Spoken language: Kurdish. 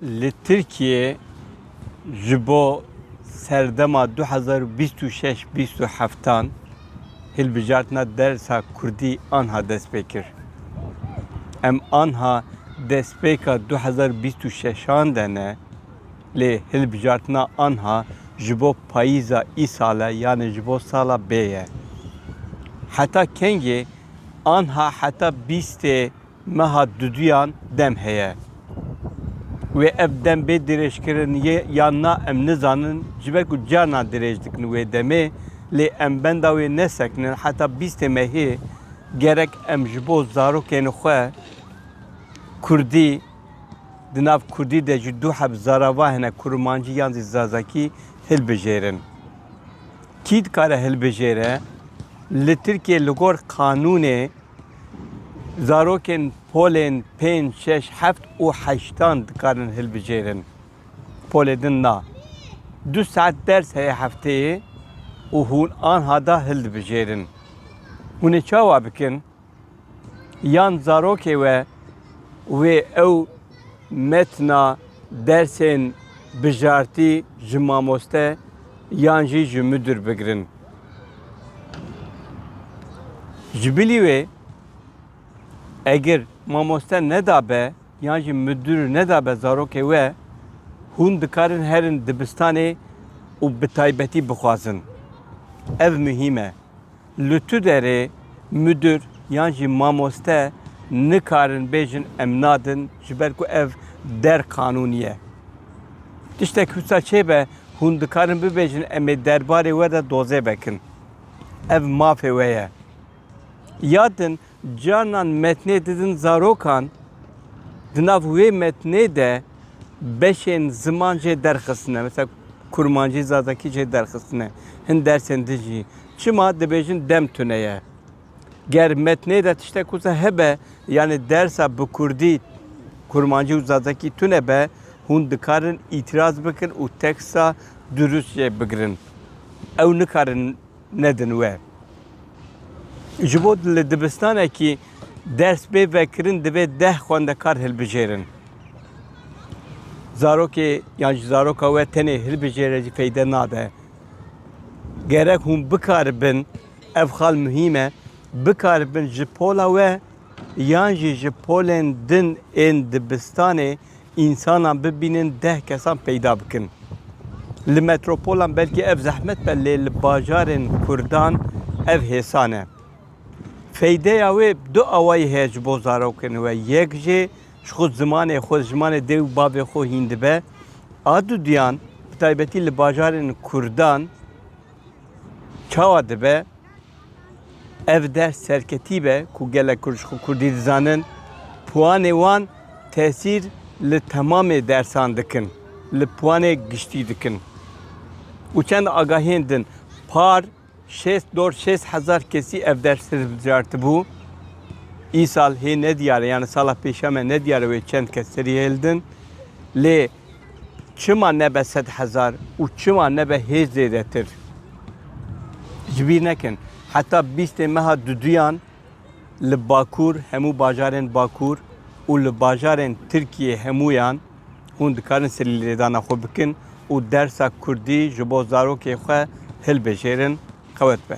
Li Tirkiyê ji bo serdema 2026-2027 hilbijartina dersa Kurdî anha dest pê kir. Em anha destpêka 2026an de ne lê hilbijartina anha ji bo payîza îsale yanê ji bo sala bê ye. Heta kengê Anha heta bîstê meha duduyan dem heye. Wê ev dem bê dirêjkirin yê yan na em nizanin ji ber ku carnan dirêj dikin wê demê lê em benda wê nesekinin heta bîstê mehê gerek em ji bo zarokên xwe kurdî di nav kurdî de jî du heb zarava hene kurmancî yan zî zazakî hilbijêrin. Kî dikare hilbijêre, li Tirkiyê li gor qanûnê zarokên polên pênc, şeş, heft û heştan dikarin hilbijêrin. Polê din na. Du saet ders heye hefteyê û hûn anha da hildibijêrin. Hûn ê çawa bikin? Yan zarokê we wê ew metna dersên bijartî ji mamoste yan jî ji midûr bigirin. Ji bilî wê egir mamoste nedabe yan jî midûr nedabe zarokê we hûn dikarin herin dibistanê û bi taybetî bixwazin. Ev muhîm e. Li tu derê mudir yan jî mamoste nikarin bêjin em nadin ji ber ku ev der qanûnî ye. Tiştek wisa çêbe hûn dikarin bibêjin em ê derbarê we de dozê vekin. Ev mafê we ye. Yad din Carnan metnê didin zarokan, di nav wê metnê de beşên ziman jê derxistine. Mesela Kurmancî, Zazakî jê derxistine. Hin dersên din jî. Çima dibêjin dem tune ye. Ger metnê de tiştek wisa hebe, yanî dersa bi Kurdî, Kurmancî û Zazakî tune be, hûn dikarin îtîraz bikin û teksta dirust jê bigirin. Ew nikarin nedin we. Ji bo li dibistanekî ders bê vekirin divê deh xwendekar hilbijêrin. Zarokê yan ji zaroka we tenê hilbijêre jî feyde nade. Gerek hûn bikaribin ev xal muhîm e bikaribin ji pola we yan jî ji polên din ên dibistanê însanan bibînin deh kesan peyda bikin. Li metropolan belkî ev zehmet be lê li bajarên Kurdan ev hêsan e. Feydeya wê du awayî heye ji bo zarokên we, yek jê ji xwe zimanê xwe, zimanê dê û bavê xwe hîn dibe. A du duyan bi taybetî li bajarên Kurdan çawa dibe? Ev ders serketî be ku gelek Kurd ji xwe Kurdî dizanin, piwanê wan tesîr li temamê dersan dikin, li piwanê giştî dikin. Û çend agahiyên din, par şêst dor şêst hezar kesî ev ders hilbijartibû. Îsal hê nediyar e, yanî sala pêşa me nediyar e wê çend kes serî hêldin. Lê Çima nebe sed hezar û çima nebe hêj zêdetir? Ji bîr nekin, heta bîstê meha duduyan li Bakur hemû bajarên Bakur û li bajarên Tirkiyê hemûyan hûn dikarin silî lêdana xwe bikin û dersa kurdî ji bo zarokê xwe hilbijêrin, qewet be.